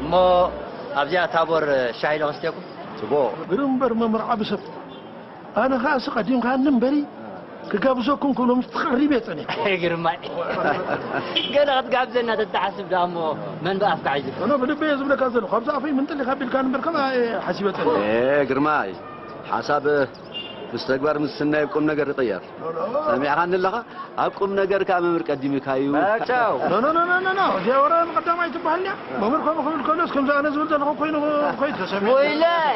እሞ ኣብዚኣ ታቦር ሻሂ ዶ ከስትየኩም? ጽቡቕ። ግርም እምበር መምህር ዓቢ ሰብ ኣነ ከኣ ሲ ቀዲምካኒ እምበሪ ክጋብዘኩም ክብሎ ምስ ተቐሪበ እየ ጸኒሐ። ኣየ ግርማይ ገለ ክትጋብዘና ተትሓስብ ደኣ እሞ መን ብኣፍካ ሒዙ። ኣነ ብልበይ እየ ዝብለካ ዘለኹ ካብዚ ኣፈይ ምንጥሊኽ ኣቢልካኒ እምበር ከምኣ እየ ሓሲበ ጸኒሐ። ኣየ ግርማይ ሓሳብ ምስ ተግባር ምስ ስናይ ቁም ነገር ይቕየር ሰሚዕኻኒ ኣለኻ ኣብ ቁም ነገር ከኣ መምህር ቀዲሙካ እዩ ጫው ኖኖኖኖኖ እዚኣ ወረ ንቐዳማይ ትበሃል እያ መምህር ከምኡ ክብል ከሎስ ከምዚ ኣነ ዝብል ዘለኹ ኮይኑ ኮይት ተሰሚዑ ወይላይ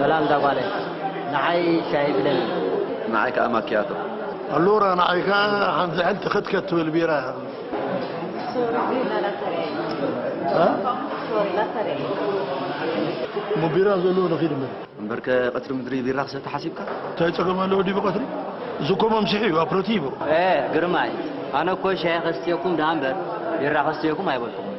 ሰላም እዛ ጓለይ ንዓይ ሻሂ ግደሊ። ንዓይ ከኣ ማክያቶ። ኣሉራ ንዓይ ከኣ ሓንቲ ሕንቲ ክትከት ትብል ቢራ። እሞ ቢራ ዘለዎ ንኺድ እምበር። እምበርከ ቀትሪ ምድሪ ቢራ ክሰቲ ሓሲብካ? እንታይ ጸገም ኣለዎ ድዩ ብቐትሪ? እዚ እኮ መምስሒ እዩ ኣፕረቲቮ። ግርማይ ኣነ እኮ ሻሂ ከስትየኩም ደኣ እምበር ቢራ ከስትየኩም ኣይበልኩምን።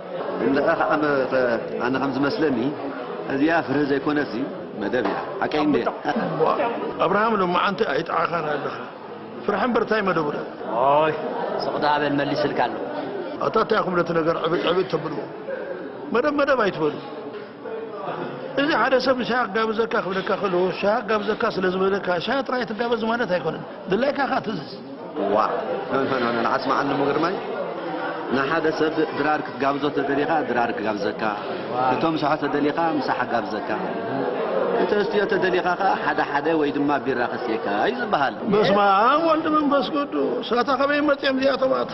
ግን ደኣ ከኣ መ ኣነ ከም ዝመስለኒ እዚኣ ፍርሂ ዘይኮነትሲ መደብ እያ ሓቀይ እንድየ። እዋእ ኣብርሃም ሎማዓንቲ ኣይጥዓኻን ኣለኻ ፍርሒ እምበር ታይ መደቡ ዶ። ኦይ ስቕ ደኣ በል መሊስልካ ኣሎ። ኣታ ታይ ኢኹም ነቲ ነገር ዕብጥ ዕብጥ ተብልዎ መደብ መደብ ኣይትበሉ። እዚ ሓደ ሰብ ንሻሂ ክጋብዘካ ክብለካ ከሎ ሻሂ ክጋብዘካ ስለ ዝበለካ ሻሂ ጥራይ ትጋበዝ ማለት ኣይኮነን። ድላይካ ከኣ ትእዝዝ። እዋእ ኖኖኖኖ ዓጽሚ ዓልሙ ግርማይ ንሓደ ሰብ ድራር ክትጋብዞ ተደሊኻ ድራር ክጋብዘካ፣ እቶ ምሳሖ ተደሊኻ ምሳሕ ክጋብዘካ፣ ክተስትዮ ተደሊኻ ከኣ ሓደ ሓደ ወይ ድማ ቢራ ከስትየካ እዩ ዝበሃል። በስመኣብ ወልድ መንፈስ ቅዱስ ኣታ ከበይ መጽዮም እዚኣቶም ኣታ።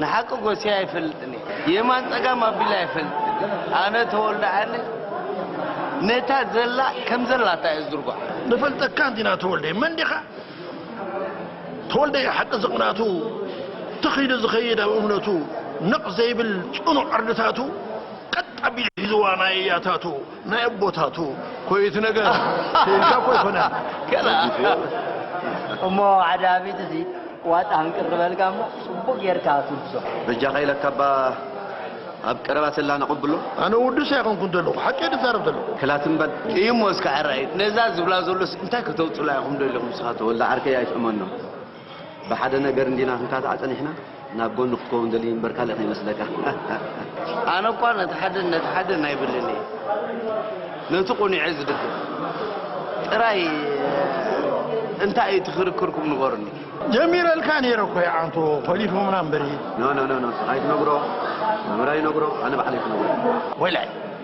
ንሓቂ ጎስየ ኣይፈልጥን እየ የማን ጸጋም ኣቢለ ኣይፈልጥን ኣነ ተወልደ ዓሊ ነታ ዘላ ከም ዘላታ እየ ዝድርጓ ንፈልጠካ እንዲና ተወልደ መን ዲኻ ተወልደ ሓቂ ዝቕናቱ ትኽ ኢሉ ዝኸይድ ኣብ እምነቱ ነቕ ዘይብል ጽኑዕ ዕርድታቱ ቀጥ ኣቢሉ ሒዝዋ ናይ እያታቱ ናይ ኣቦታቱ ኮይ እቲ ነገር ክኢልካ እኮ ኣይኮነን ገና እሞ ዓዳሚት እዚ ዋጣ ህንቅር ዝበልካ እሞ ጽቡቅ ጌርካ ትብዞ በጃኻ ኢለካ እባ ኣብ ቀረባ ሰላ ነቐብሎ ኣነ ውዱስ ኣይኮንኩን ዘለኹ ሓቂ ድዛረብ ዘለኹ ክላትም በል እዩሞ እስከ ዕራይ ነዛ ዝብላ ዘሎስ እንታይ ከተውጽላ ኢኹም ደለኹም ንስኻ ተወልደ ዓርከይ ኣይትእመኖ ብሓደ ነገር እንዲና ክንካታዕ ጸኒሕና ናብ ጎኒ ክትከውን ደልዩ እምበር ካልእ ከይመስለካ። ኣነ እኳ ነቲ ሓደን ነቲ ሓደን ኣይብልን እየ ነቲ ቁኑዔ ዝድግፍ ጥራይ እንታይ እዩ እቲ ክርክርኩም ንገሩኒ። ጀሚረልካ ነይረ እኮ ይዓንቶ ኮሊፎምና እምበሪ። ኖ ኖ ኖ ኖ ኣይትነግሮ መምህር ኣይነግሮ ኣነ ባዕለይ ክነግሮ ወላይ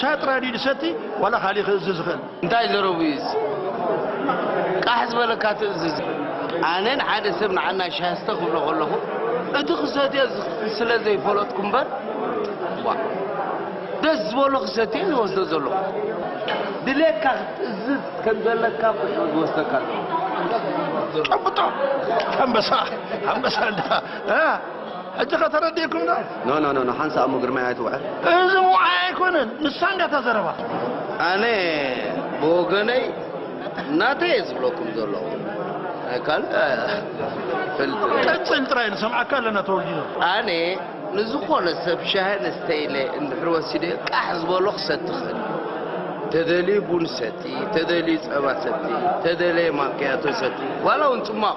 ሻጥ ራድዩ ድሰቲ ዋላ ካሊእ ክእዝዝ ዝኽእል። እንታይ ዘረቡ እዩ እዚ ቃሕ ዝበለካ ትእዝዝ። ኣነ ንሓደ ሰብ ንዓና ሻሂ ስተ ክብሎ ከለኹ እቲ ክሰትዮ ስለ ዘይፈለጥኩ እምበር ዋ ደስ ዝበሎ ክሰትዮ ዝወስዶ ዘለኹ ድሌትካ ክትእዝዝ ከም ዘለካ ኮይኑ ዝወስደካ ኣለኹ ጨብጦ ኣንበሳ ኣንበሳ እንዳ ሕጂ ከ ተረዲእኩም ዶ? ኖ ኖ ኖ ሓንሳእ እሞ ግርማይ ኣይትውዐል። እዚ ውዓይ ኣይኮነን ንሳ እንድያ እታ ዘረባ። ኣነ ብወገነይ ናተይ እየ ዝብለኩም ዘለኹ ካልእ ፈልጥ ቀጽል ጥራይ ንሰምዓካ ኣለና ተወልዲኖ ኣነ ንዝኾነ ሰብ ሻሂ ንስተይለ እንድሕር ወሲደ ቃሕ ዝበሎ ክሰቲ ክእል ተደልዩ ቡን ሰቲ ተደልዩ ፀባ ሰቲ ተደለየ ማክያቶ ሰቲ ዋላ እውን ፅሟቕ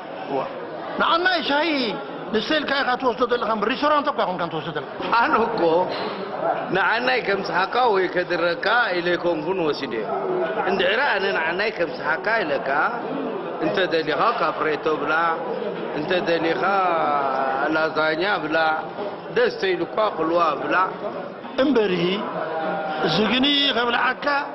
ንዓናይ ሻሂ ንስተ ኢልካ ኢኻ ትወስዶ ዘለኻ እምበር ሪስቶራንት እኳ ኣይኮንካን ትወስዶ ዘለኻ። ኣነ እኮ ንዓናይ ከምጽሓካ ወይ ከድረካ ኢለ ኣይኮንኩን ወሲደዮ። እንድሕሪ ኣነ ንዓናይ ከምጽሓካ ኢለካ እንተ ደሊኻ ካፕሬቶ ብላዕ እንተ ደሊኻ ላዛኛ ብላዕ ደስ ተይሉኳ ቅልዋ ብላዕ። እምበሪ እዚ ግኒ ከብልዓካ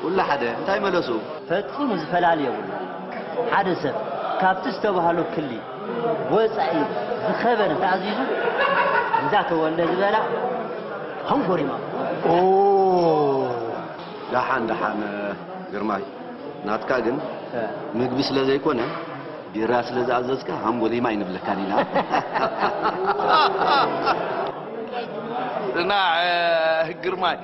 ኩሉ ሓደ እንታይ መለሱ? ፈጺሙ ዝፈላሊ የብሉን። ሓደ ሰብ ካብቲ ዝተባህሎ ክሊ ወጻኢ ዝኸበ እንተኣዚዙ እንዳ ተወልደ ዝበላ ሃንጎሪማ። ኦው ዳሓን ዳሓን ግርማይ ናትካ ግን ምግቢ ስለ ዘይኮነ ቢራ ስለ ዝኣዘዝካ ሃንጎሊማ ኣይንብለካን ኢና። ጽናዕ ግርማይ።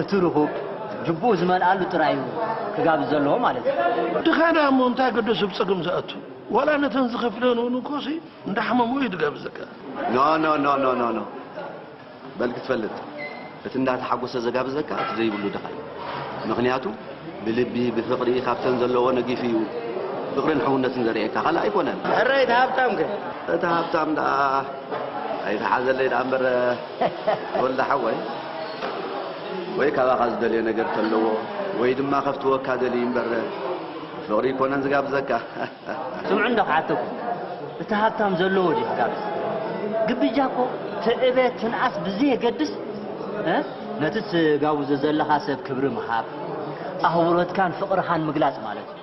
እቲ ርኹብ ጅቡኡ ዝመልኣሉ ጥራይ እዩ ክጋብዝ ዘለዎ ማለት እዩ። ድኻ ድኣ እሞ እንታይ ገደሱ ብ ጸገም ዝኣቱ ዋላ ነተን ዝኸፍለኤን ውን እኮሲ እንዳ ሓመሙ እዩ ድጋብዘካ። ኖኖኖኖኖኖ በል ክትፈልጥ እቲ እንዳ ተሓጎሰ ዘጋብዘካ እቲ ዘይብሉ ድኻ እዩ ምኽንያቱ ብልቢ ብፍቅሪ ካብተን ዘለዎ ነጊፉ እዩ ፍቅርን ሕውነትን ዘርእየካ ካልእ ኣይኮነን። እረ እቲ ሃብታም ከ? እቲ ሃብታም ድኣ ኣይትሓዘለይ ድኣ እምበር። ተወልደ ሓወይ ወይ ካባኻ ዝደልዮ ነገር ተለዎ ወይ ድማ ከፍትወካ ደልዩ እምበረ ፍቕሪ ኣይኮነን ዝጋብዘካ። ስምዑ እንዶ ክሓተኩም እቲ ሃብታም ዘለዎ ድዩ ክጋብዝ ግብጃ እኮ ትዕበ ትንኣስ ብዘየገድስ ነቲ ትጋብዞ ዘለኻ ሰብ ክብሪ ምሃብ ኣኽብሮትካን ፍቕርኻን ምግላጽ ማለት እዩ።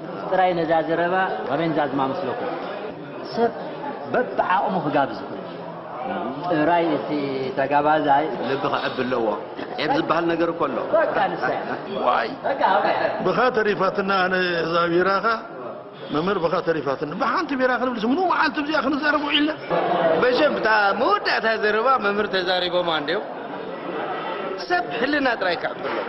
እዚ ጥራይ ነዛ ዘረባ ኣበን ዛዝማ መስለኩም ሰብ በብዓቕሙ ክጋብዝ ይኽእል እዩ ጥራይ እቲ ተጋባዛይ ልቢ ክዕቢ ኣለዎ ዔብ ዝበሃል ነገር እኮ ኣሎ በቃ ንሳ እያ ዋይ በቃ በቃ ብኻ ተሪፋትና ኣነ እዛ ቢራኻ መምህር ብኻ ተሪፋትና ብሓንቲ ቢራ ክንብልስ ምኑ መዓልቲ ብዚኣ ክንዛረብ ውዒልና መሸም እታ መወዳእታ ዘረባ መምህር ተዛሪቦማ እንድዮም ሰብ ሕልና ጥራይ ክዕቢ ኣለዎ